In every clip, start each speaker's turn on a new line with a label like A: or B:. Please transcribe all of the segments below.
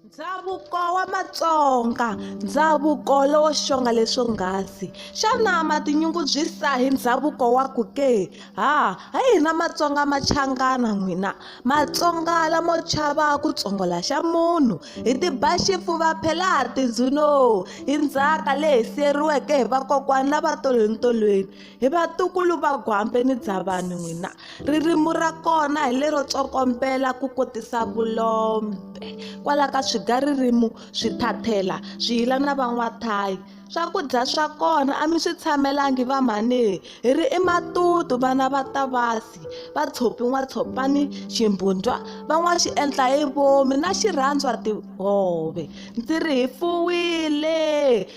A: Ndhavuko wa Matsonga ndhavuko lowo xonga leswo nghasi xana ma tinyungubyisa hi ndhavuko wa ku ke ha hi hina Matsonga machangana n'wina Matsonga lamo chava ku tsongola xa munhu hi tiba xifuva phela ha tindzuno hi ndzhaka leyi siyeriweke hi vakokwana va tolweni tolweni hi vatukulu va gwambe ni bya vanhu n'wina ririmu ra kona hi lero tsokombela ku kotisa vulombe kwala ka swiga ririmu swi thathela swi yila na van'wathayi swakudya swa kona a mi swi tshamelangi va mhani hi ri i matutu vana va tavasi va tshopi n'watshopani ximbundwa van'wa xi endla hi vomi na xirhandzwa tihove ndzi ri hi fuwile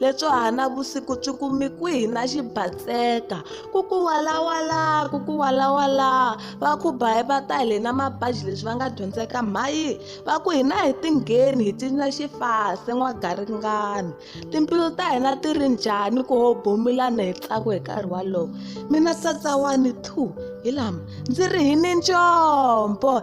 A: lebyo hana vusiku byi kumi kwihi na xibatseka ku ku walawala ku ku walawala va ku bayi va ta hile na mabaji leswi va nga dyondzeka mhayi va ku hina hi tingheni hi cinca xifase n'wagaringani timbilu ta hina ti ri njhani ku ho bomilana hi tsako hi nkarhi walowo mina satsawani two hi lama ndzi ri hi ni ncombo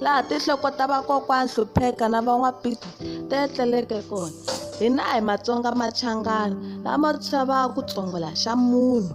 A: laha tinhloko ta vakokwana hlupheka na van'wapiti ti etleleke kona hina hi matsonga machangana lama chavaka ku tsongola xa munhu